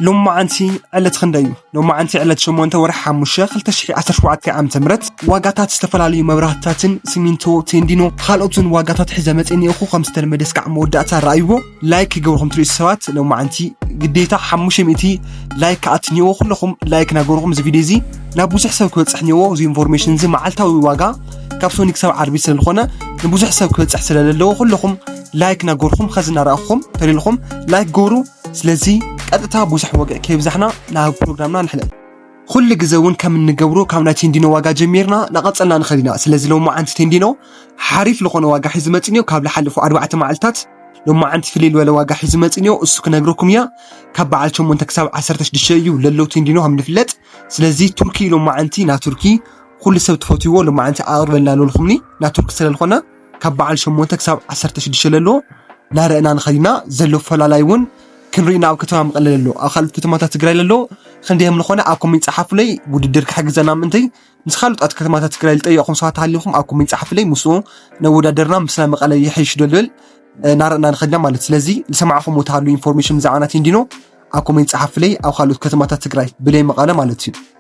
ሎማዓንቲ ዕለት ክንደይ እዩ? ሎማዓንቲ ዕለት ሸሞንተ ወርሒ ሓሙሽተ ክልተ ሽሕ ዓሰርተ ሸውዓተ ዓመተ ምህረት ዋጋታት ዝተፈላለዩ መብራህትታትን ሲሚንቶ ቴንዲኖ ካልኦትን ዋጋታት ሒዘ መፅየ ኒኤኹ ከም ዝተለመደ እስካዕ መወዳእታ ረኣይዎ ላይክ ክገብርኩም ትሪእሱ ሰባት ሎማዓንቲ ግዴታ ሓሙሽተ ሚእቲ ላይክ ክኣቱ ኒኤዎ ኩለኹም ላይክ ናገበርኹም እዚ ቪድዮ እዚ ናብ ብዙሕ ሰብ ክበፅሕ ኒኤዎ እዚ ኢንፎርሜሽን እዚ መዓልታዊ ዋጋ ካብ ሶኒ ክሳብ ዓርቢ ስለዝኾነ ንብዙሕ ሰብ ክበፅሕ ስለዘለዎ ኩለኹም ላይክ ናገበርኹም ከዚ እናረኣኹም ተሪልኹም ላይክ ገብሩ ስለዚ ቀጥታ ብዙሕ ወግዒ ከይብዛሕና ናብ ፕሮግራምና ንሕለፍ ኩሉ ግዘ እውን ከም እንገብሮ ካብ ናይ ቴንዲኖ ዋጋ ጀሚርና ናቐፀልና ንኽእል ኢና ስለዚ ሎማዓንቲ ቴንዲኖ ሓሪፍ ዝኾነ ዋጋ ሒዙ መፅንዮ ካብ ዝሓለፉ ኣርባዕተ መዓልትታት ሎማዓንቲ ፍልይ ዝበለ ዋጋ ሒዙ መፅንዮ እሱ ክነግረኩም እያ ካብ በዓል ሸሞንተ ክሳብ ዓሰርተ ሽዱሽተ እዩ ለሎ ቴንዲኖ ከም ንፍለጥ ስለዚ ቱርኪ ሎማዓንቲ ናብ ቱርኪ ኩሉ ሰብ ትፈትይዎ ሎማዓንቲ ኣቕርበልና ኣለልኹምኒ ናብ ቱርኪ ስለዝኾነ ካብ በዓል ሸሞንተ ክሳብ ዓሰርተ ሽዱሽተ ለሎ ናረእና ንኸድ ኢና ዘሎ ፈላላይ እውን ክንርኢ ናብ ከተማ መቐለ ለሎ ኣብ ካልኦት ከተማታት ትግራይ ለሎ ክንደይ ከም ዝኾነ ኣብ ኮሜንት ጸሓፉለይ ውድድር ክሕግዘና ምእንተይ ምስ ካልኦት ከተማታት ትግራይ ዝጠየቕኹም ሰባት ሃሊኹም ኣብ ኮሜንት ጸሓፉለይ ምስኡ ነወዳደርና ምስ ናይ መቐለ ይሕይሽ ዶ ልብል ናረእና ንኸድ ኢና ማለት ስለዚ ዝሰማዕኹም ተሃሉ ኢንፎርሜሽን ብዛዕባ ናት ኢንዲኖ ኣብ ኮሜንት ጸሓፉለይ ኣብ ካልኦት ከተማታት ትግራይ ብለይ መቐለ ማለት እዩ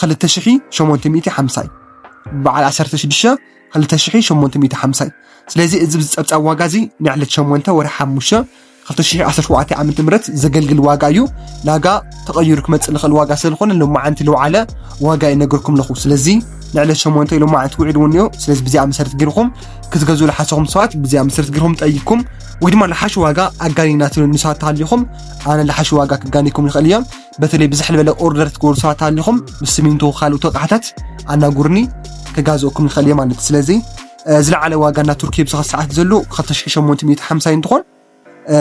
ክልተ ሽሒ ሸሞንተ ሚእቲ ሓምሳ እዩ ብዓል ዓሰርተ ሽዱሽተ ክልተ ሽሒ ሸሞንተ ሚእቲ ሓምሳ እዩ ስለዚ እዚ ዝፀብፃብ ዋጋ እዚ ናይ ዕለት ሸሞንተ ወርሒ ሓሙሽተ ክልተ ሽሒ ዓሰርተ ሸውዓተ ዓመተ ምህረት ዘገልግል ዋጋ እዩ ናጋ ተቐይሩ ክመፅእ ዝኽእል ዋጋ ስለዝኾነ ሎማዓንቲ ልውዓለ ዋጋ ይነገርኩም ኣለኹ ስለዚ ንዕለት ሸሞንተ ሎማዓንቲ ውዒሉ እውን እዩ ስለዚ ብዚኣ መሰረት ጌርኩም ክትገዝኡ ዝሓሰኹም ሰባት ብዚኣ መሰረት ጌርኩም ጠይቅኩም ወይ ድማ ልሓሽ ዋጋ ኣጋኒናትሉ ንሰባት ተሃሊኹም ኣነ ልሓሽ ዋጋ ክጋኒኩም ይኽእል እየ በተለይ ብዝሕ ልበለ ኦርደር ትገብሩ ሰባት ኣሊኹም ምስ ስሚንቶ ካልኦት ኣቕሓታት ኣናጉርኒ ከጋዝኦኩም ይኽእል እየ ማለት ስለዚ ዝለዓለ ዋጋ እና ቱርኪ ብዝኸ ሰዓት ዘሎ 2850 እንትኾን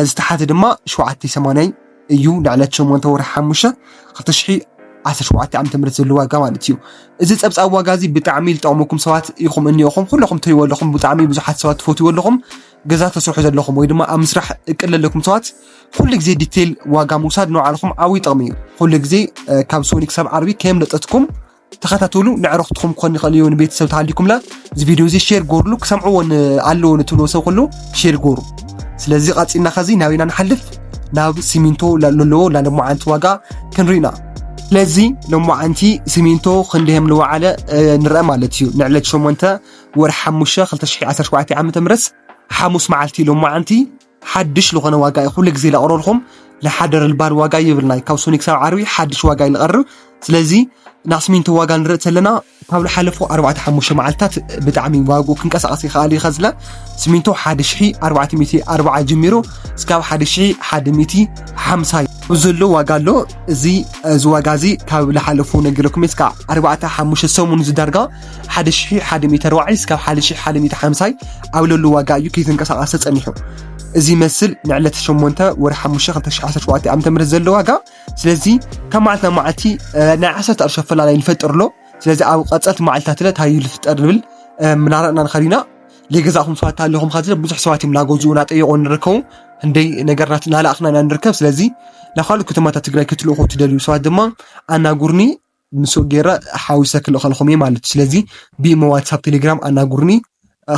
ዝተሓተ ድማ 780 እዩ ንዕለት 8 ወርሒ 5 2017 ዓ ም ዘሎ ዋጋ ማለት እዩ እዚ ፀብፃብ ዋጋ እዚ ብጣዕሚ ዝጠቕመኩም ሰባት ኢኹም እኒኦኹም ኩለኹም ትሪእዎ ኣለኹም ብጣዕሚ ብዙሓት ሰባት ትፈትዎ ኣለኹም ገዛ ተስርሑ ዘለኹም ወይ ድማ ኣብ ምስራሕ እቅድ ዘለኩም ሰባት ኩሉ ግዜ ዲቴል ዋጋ ምውሳድ ንባዕልኹም ዓብይ ጥቕሚ እዩ። ኩሉ ግዜ ካብ ሶኒ ክሳብ ዓርቢ ከየምለጠትኩም ተኸታተሉ። ንዕረፍትኹም ክኾን ይኽእል እዩ ንቤተሰብ ተሃሊኩምላ እዚ ቪድዮ እዚ ሼር ጎርሉ ክሰምዕዎ ኣለዎ ንትብልዎ ሰብ ኩሉ ሼር ጎሩ። ስለዚ ቐፂልና ከዚ ናብ ኢና ንሓልፍ ናብ ሲሚንቶ ለለዎ ላለሞዓንቲ ዋጋ ክንሪኢና ስለዚ ሎማዓንቲ ሲሚንቶ ክንደ ከም ዝወዓለ ንርአ ማለት እዩ ንዕለት ሸሞንተ ወርሒ ሓሙሽተ ክልተ ሽሕ ዓሰርተ ሸውዓተ ዓመተ ምህረት ሓሙስ መዓልቲ ሎማዓንቲ ሓድሽ ልኾነ ዋጋ እዩ ኩሉ ግዜ ለቕረልኹም ለሓደረ ልባል ዋጋ ይብልናይ ካብ ሶኒ ክሳብ ዓርቢ ሓድሽ ዋጋ እዩ ልቐርብ ስለዚ ናስሚንቶ ዋጋ ንርኢ ዘለና ካብ ዝሓለፉ ኣርባዕተ ሓሙሽተ መዓልትታት ብጣዕሚ ዋግኡ ክንቀሳቐስ ይኽኣል እዩ ከዝለ ስሚንቶ ሓደ ሽሒ ኣርባዕተ ሚእቲ ኣርባዓ ጀሚሩ እስካብ ሓደ ሽሒ ሓደ ሚእቲ ሓምሳ ዘሎ ዋጋ ኣሎ እዚ እዚ ዋጋ እዚ ካብ ዝሓለፉ ነገረኩም እስካ ኣርባዕተ ሓሙሽተ ሰሙን ዝዳርጋ 1140 ስካብ 1150 ኣብ ለሉ ዋጋ እዩ ከይተንቀሳቐሰ ጸኒሑ። እዚ ይመስል ንዕለት 8 ወር 5 2017 ዓ.ም ዘሎ ዋጋ ስለዚ ካብ መዓልቲ ናብ መዓልቲ ናይ 10 ቅርሺ ኣፈላላይ ይፈጥር ኣሎ ስለዚ ኣብ ቀጸልቲ መዓልትታት እንታይ እዩ ዝፍጠር ንብል ምናረእና ንኸድ ኢና ዘይገዛእኹም ሰባት ኣለኹም ካዚ ብዙሕ ሰባት እዮም እናገዝኡ እናጠየቑ ንርከቡ እንደይ ነገርናት እናላእኽና ኢና ንርከብ ስለዚ ናብ ካልኦት ከተማታት ትግራይ ክትልእኹ ትደልዩ ሰባት ድማ ኣናጉርኒ ንሱ ገይረ ሓዊሰ ክልእኸልኩም እየ ማለት እዩ። ስለዚ ብኢሞ፣ ዋትሳፕ፣ ቴሌግራም ኣናግሩኒ።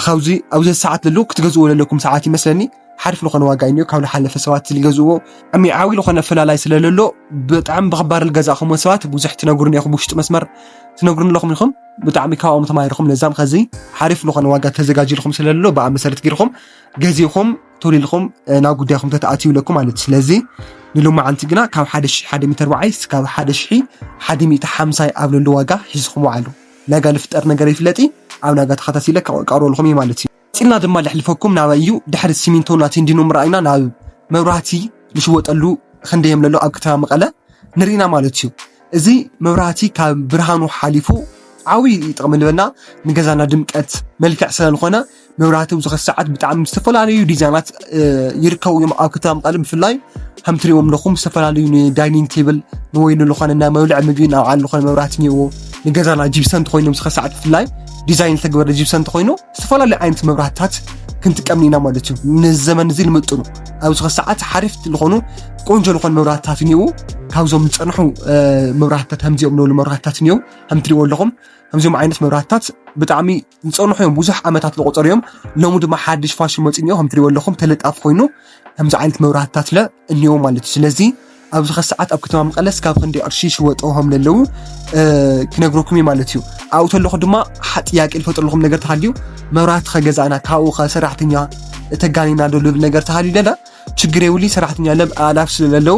ካብዚ ኣብዚ ሰዓት ለሎ ክትገዝእዎ ዘለኩም ሰዓት ይመስለኒ ሓሪፍ ዝኾነ ዋጋ እዩ ካብ ዝሓለፈ ሰባት ዝገዝእዎ ዓሚ ዓብዪ ዝኾነ ፈላላይ ስለለሎ ብጣዕሚ ብኽባር ዝገዛእኹም ሰባት ብዙሕ ትነግሩኒ ኢኹም ውሽጢ መስመር ትነግሩኒ ኣለኹም ኢኹም ብጣዕሚ ካብኦም ተማሂርኹም ለዛም ከዚ ሓሪፍ ዝኾነ ዋጋ ተዘጋጅልኩም ስለለሎ ብኣ መሰረት ገይርኹም ገዚእኹም ቶሎ ኢልኩም ናብ ጉዳይኩም ተትኣትዩ ኣለኩም ማለት እዩ ስለዚ ንሎማዓንቲ ግና ካብ 1100 በዓይ ስካብ 1150 ኣብ ለሎ ዋጋ ሒዝኹም ወዓሉ ናጋ ልፍጠር ነገር ይፍለጢ ኣብ ናጋ ተኸታቲለ ከቀርበልኩም እዩ ማለት እዩ ፂልና ድማ ልሕልፈኩም ናበይ እዩ ድሕሪ ሲሚንቶ እና ቴንዲኖ ምርኣይና ናብ መብራህቲ ልሽወጠሉ ክንደየም ለሎ ኣብ ከተማ መቐለ ንርኢና ማለት እዩ እዚ መብራህቲ ካብ ብርሃኑ ሓሊፉ ዓብይ ጥቕሚ ልበና ንገዛና ድምቀት መልክዕ ስለዝኾነ መብራህቲ ኣብዚ ኸዚ ሰዓት ብጣዕሚ ዝተፈላለዩ ዲዛይናት ይርከቡ እዮም ኣብ ከተማ መቐለ ብፍላይ ከም ትሪእዎም ኣለኹም ዝተፈላለዩ ንዳይኒንግ ቴብል ንወይ ንዝኾነ ናይ መብልዕ ምግቢ ናብ ዓል ዝኾነ መብራህቲ እኒዎ ንገዛና ጂብሰን ተኮይኖም ዝኸ ሰዓት ብፍላይ ዲዛይን ዝተገበረ ጂብሰን ተኮይኑ ዝተፈላለዩ ዓይነት መብራህትታት ክንጥቀም ኢና ማለት እዩ ንዘመን እዚ ንምጥኑ ኣብዚ ኸዚ ሰዓት ሓሪፍ ዝኾኑ ቆንጆ ዝኾኑ መብራህትታት እኒዉ ካብዞም ዝፀንሑ መብራህትታት ከምዚኦም ንብሉ መብራህትታት እኒዉ ከምትሪእዎ ኣለኹም ከምዚኦም ዓይነት መብራህትታት ብጣዕሚ ዝፀንሑ እዮም ብዙሕ ዓመታት ዝቆፀሩ እዮም ሎሚ ድማ ሓድሽ ፋሽን መፂ እኒኦ ከም ትሪእዎ ኣለኹም ተለጣፊ ኮይኑ ከምዚ ዓይነት መብራህትታት ለ እኒኦ ማለት እዩ ስለዚ ኣብዚ ከ ሰዓት ኣብ ከተማ መቐለ ስካብ ክንደይ ቅርሺ ይሽወጡ ከም ዘለዉ ክነግረኩም እዩ ማለት እዩ ኣብኡ ተለኹ ድማ ጥያቄ ዝፈጥረልኩም ነገር ተሃልዩ መብራህቲ ከገዛእና ካብኡ ከ ሰራሕተኛ ተጋኒና ዶ ልብል ነገር ተሃልዩ ደላ ችግር የብሉይ ሰራሕተኛለ ኣእላፍ ስለለለዉ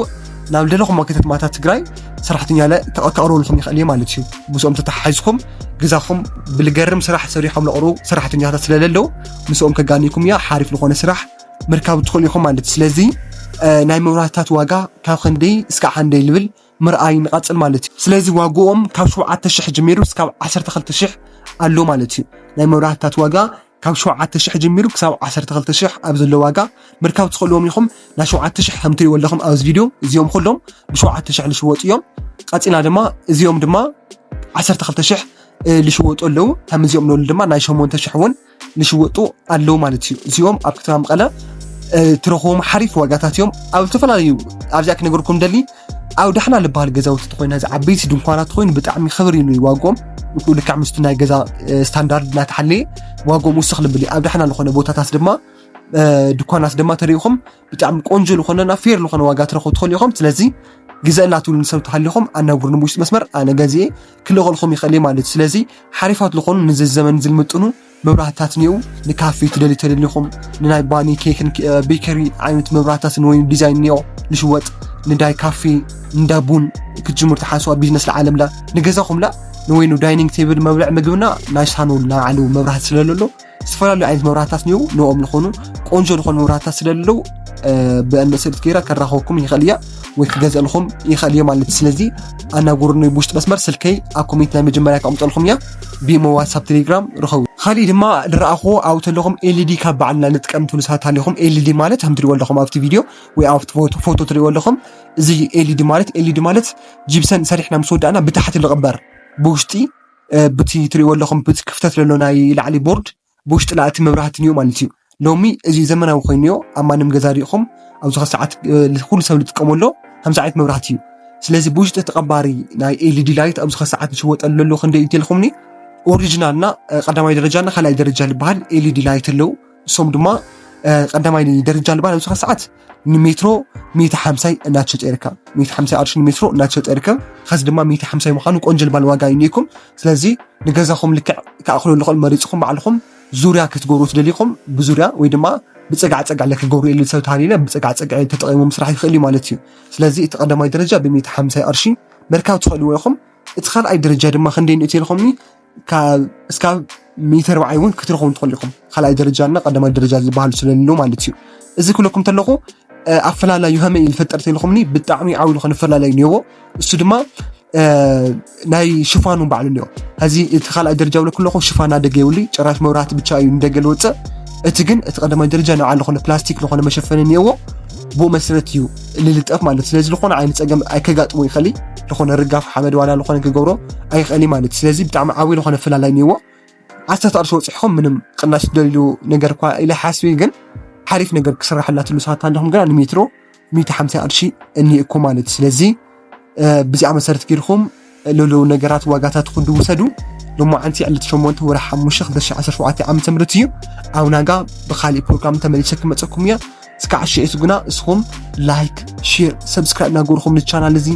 ናብ ልደለኹም ከተማታት ትግራይ ሰራሕተኛለ ከቕርቡልኩም ይኽእል እዩ ማለት እዩ ምስኦም ተተሓሒዝኩም ገዛኹም ብልገርም ስራሕ ሰሪሖም ለቕርቡ ሰራሕተኛታት ስለለለዉ ምስኦም ከጋኒኩም እያ ሓሪፍ ዝኾነ ስራሕ ምርካብ ትኽእሉ ኢኹም ማለት እዩ ስለዚ ናይ መብራህትታት ዋጋ ካብ ክንደይ እስከ ሓንደይ ልብል ምርኣይ ንቐፅል ማለት እዩ ስለዚ ዋግኦም ካብ ሸውዓተ ሽሕ ጀሚሩ እስካብ ዓሰርተ ክልተ ሽሕ ኣሎ ማለት እዩ ናይ መብራህትታት ዋጋ ካብ ሸውዓተ ሽሕ ጀሚሩ ክሳብ ዓሰርተ ክልተ ሽሕ ኣብ ዘሎ ዋጋ ምርካብ ትኽእልዎም ኢኹም። ናይ ሸውዓተ ሽሕ ከም ትሪእዎ ኣለኹም ኣብዚ ቪድዮ እዚኦም ኩሎም ብሸውዓተ ሽሕ ዝሽወጡ እዮም። ቀፂልና ድማ እዚኦም ድማ ዓሰርተ ክልተ ሽሕ ዝሽወጡ ኣለዉ። ከም እዚኦም ንበሉ ድማ ናይ ሸሞንተ ሽሕ እውን ዝሽወጡ ኣለዉ ማለት እዩ። እዚኦም ኣብ ከተማ መቐለ ትረኽቦም ሓሪፍ ዋጋታት እዮም። ኣብ ዝተፈላለዩ ኣብዚኣ ክነገርኩም ደሊ ኣብ ዳሕና ልበሃል ገዛውቲ ኮይኑ እዚ ዓበይቲ ድንኳናት ኮይኑ ብጣዕሚ ክብር እዩ ዋጎም ንክኡ ልክዕ ምስቲ ናይ ገዛ ስታንዳርድ እናተሓለየ ዋጎም ውስኽ ልብል እዩ ኣብ ዳሕና ዝኾነ ቦታታት ድማ ድኳናት ድማ ተሪኢኹም ብጣዕሚ ቆንጆ ዝኾነና ፌር ዝኾነ ዋጋ ትረኽቡ ትኽእሉ ኢኹም ስለዚ ግዘ እናትብሉ ንሰብ ተሃሊኹም ኣናግሩ ንውሽጢ መስመር ኣነ ገዚኤ ክልእኸልኩም ይኽእል ማለት እዩ ስለዚ ሓሪፋት ዝኾኑ ንዚ ዘመን ዝልምጥኑ መብራህትታት እኒአው ንካፌ ትደልዩ ተደሊኹም ንናይ ባኒ ኬክን ቤከሪ ዓይነት መብራህትታትን ወይ ዲዛይን እኒኦ ልሽወጥ ንዳይ ካፌ እንዳ ቡን ክትጅምሩ ተሓስዋ ቢዝነስ ለዓለምላ ንገዛኹምላ ንወይኑ ዳይኒንግ ቴብል መብልዕ ምግብና ናይ ሳሎን ናይ ባዕሉ መብራህቲ ስለለሎ ዝተፈላለዩ ዓይነት መብራህትታት እኒአው ንኦም ዝኾኑ ቆንጆ ዝኾኑ መብራህትታት ስለለለው ብእንደ ስእልት ገይራ ከራኸብኩም ይኽእል እያ ወይ ክገዝእልኹም ይኽእል እየ ማለት ስለዚ ኣናገሩኒ ብውሽጢ መስመር ስልከይ ኣብ ኮሚኒቲ ናይ መጀመርያ ከቕምጠልኩም እያ ብሞ ዋትሳፕ ቴሌግራም ርኸቡ ካሊእ ድማ ዝረኣኹዎ ኣብኡ ተለኹም ኤልዲ ካብ በዓልና ንጥቀም ትብሉ ሰባት ኣለኹም ኤልዲ ማለት ከም ትሪእዎ ኣለኹም ኣብቲ ቪድዮ ወይ ኣብቲ ፎቶ ትሪእዎ ኣለኹም እዚ ኤልዲ ማለት ኤልዲ ማለት ጂብሰን ሰሪሕና ምስ ወዳእና ብታሕቲ ዝቕበር ብውሽጢ ብቲ ትሪእዎ ኣለኹም ክፍተት ዘሎ ናይ ላዕሊ ቦርድ ብውሽጢ ናእቲ መብራህትን እዩ ማለት እዩ። ሎሚ እዚ ዘመናዊ ኮይኑ እዮ ኣብ ማንም ገዛ ሪኢኹም ኣብዚ ሰዓት ኩሉ ሰብ ዝጥቀመሎ ከምዚ ዓይነት መብራህቲ እዩ ስለዚ ብውሽጢ ተቐባሪ ናይ ኤልዲ ላይት ኣብዚ ሰዓት ዝሽወጠሉ ዘሎ ክንደይ እዩ ተልኩምኒ ኦሪጂናልና ቀዳማይ ደረጃና ካልኣይ ደረጃ ዝበሃል ኤልዲ ላይት ኣለዉ እሶም ድማ ቀዳማይ ደረጃ ዝበሃል ኣብዚ ሰዓት ንሜትሮ ሚእቲ ሓምሳይ እናተሸጠ ይርከብ ሚእቲ ሓምሳይ ቅርሺ ንሜትሮ እናተሸጠ ይርከብ ኸዚ ድማ ሚእቲ ሓምሳይ ምዃኑ ቆንጆ ልባል ዋጋ እዩ ኒኩም ስለዚ ንገዛኹም ልክዕ ክኣኽሎ ልኽእል መሪፅኹም ባዕልኹም ዙርያ ክትገብሩ ትደልይኹም ብዙርያ ወይ ድማ ብፀጋዕ ፀጋዕ ለክገብሩ የሉ ሰብ ተሃሊለ ብፀጋዕ ፀጋዕ ተጠቂሙ ምስራሕ ይኽእል እዩ ማለት እዩ ስለዚ እቲ ቀዳማይ ደረጃ ብሚእቲ ሓምሳይ ቅርሺ ምርካብ ትኽእልዎ ኢኹም እቲ ካልኣይ ደረጃ ድማ ክንደይ ንእትልኹምኒ እስካብ ሚእቲ ኣርባዕይ እውን ክትረኽቡ ትኽእሉ ኢኹም። ካልኣይ ደረጃ እና ቀዳማይ ደረጃ ዝበሃሉ ስለሉ ማለት እዩ። እዚ ክብለኩም ተለኹ ኣፈላላዩ ከመይ እዩ ዝፈጠር ተልኹምኒ ብጣዕሚ ዓብዪ ዝኾነ ኣፈላላይ እኒኦዎ እሱ ድማ ናይ ሽፋኑ ባዕሉ እኒኦ ሕዚ እቲ ካልኣይ ደረጃ ብለ ክለኹ ሽፋን ኣደገ የብሉ ጨራሽ መብራህቲ ብቻ እዩ ንደገ ዝወፅእ እቲ ግን እቲ ቀዳማይ ደረጃ ንባዕሉ ዝኾነ ፕላስቲክ ዝኾነ መሸፈኒ እኒኦዎ ብኡ መሰረት እዩ ልልጠፍ ማለት እዩ ስለዚ ዝኾነ ዓይነት ፀገም ኣይከጋጥሞ ይኸእል ዝኾነ ርጋፍ ሓመድ ዋላ ዝኾነ ክገብሮ ኣይኸእል ማለት እዩ ስለዚ ብጣዕሚ ዓብይ ዝኾነ ፍላላይ እኒዎ ዓሰርተ ቅርሺ ወፅሕኹም ምንም ቅናሽ ደልዩ ነገር እኳ ኢለ ሓስቢ ግን ሓሪፍ ነገር ክስራሕላ ትሉ ሰዓት ኣለኹም ግና ንሜትሮ ሚእቲ ሓምሳ ቅርሺ እኒኤኩ ማለት እዩ ስለዚ ብዚኣ መሰረት ጌርኩም ለለዉ ነገራት ዋጋታት ኩዱ ውሰዱ ሎማዓንቲ ዕለት ሸሞንተ ወረ ሓሙሽተ ክልተ ሽሕ ዓሰርተ ሸውዓተ ዓመተ ምህረት እዩ ኣብ ናጋ ብካሊእ ፕሮግራም ተመሊሰ ክመፀኩም እየ እስካዕ ሽዒቱ ግና እስኹም ላይክ ሼር ሰብስክራይብ እናገበርኩም ንቻናል እዚ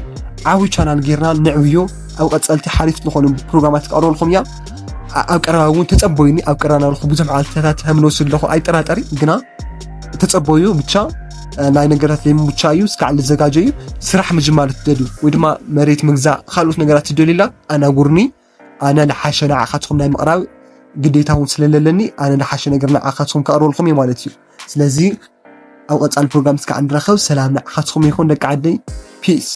ዓብዪ ቻናል ጌርና ንዕብዮ ኣብ ቀፀልቲ ሓሪፍ ዝኾኑ ፕሮግራማት ክቀርበልኩም እያ ኣብ ቀረባ እውን ተፀበዩኒ ኣብ ቀረባ ናብልኩ ብዙሕ መዓልትታት ከምንወስድ ኣለኹ ኣይጠራጠሪ ግና ተፀበዩ ብቻ ናይ ነገራት ዘይምምቻ እዩ እስካዕ ልዘጋጀ እዩ ስራሕ ምጅማር ትደልዩ ወይ ድማ መሬት ምግዛእ ካልኦት ነገራት ትደልዩላ ኣናጉርኒ ኣነ ልሓሸ ንዓኻትኩም ናይ ምቕራብ ግዴታ እውን ስለለለኒ ኣነ ልሓሸ ነገር ንዓኻትኩም ከቕርበልኩም እዩ ማለት እዩ ስለዚ ኣብ ቀፃሊ ፕሮግራም እስካዕ ንራኸብ ሰላም ንዓኻትኩም ይኹን ደቂ ዓደይ ፒስ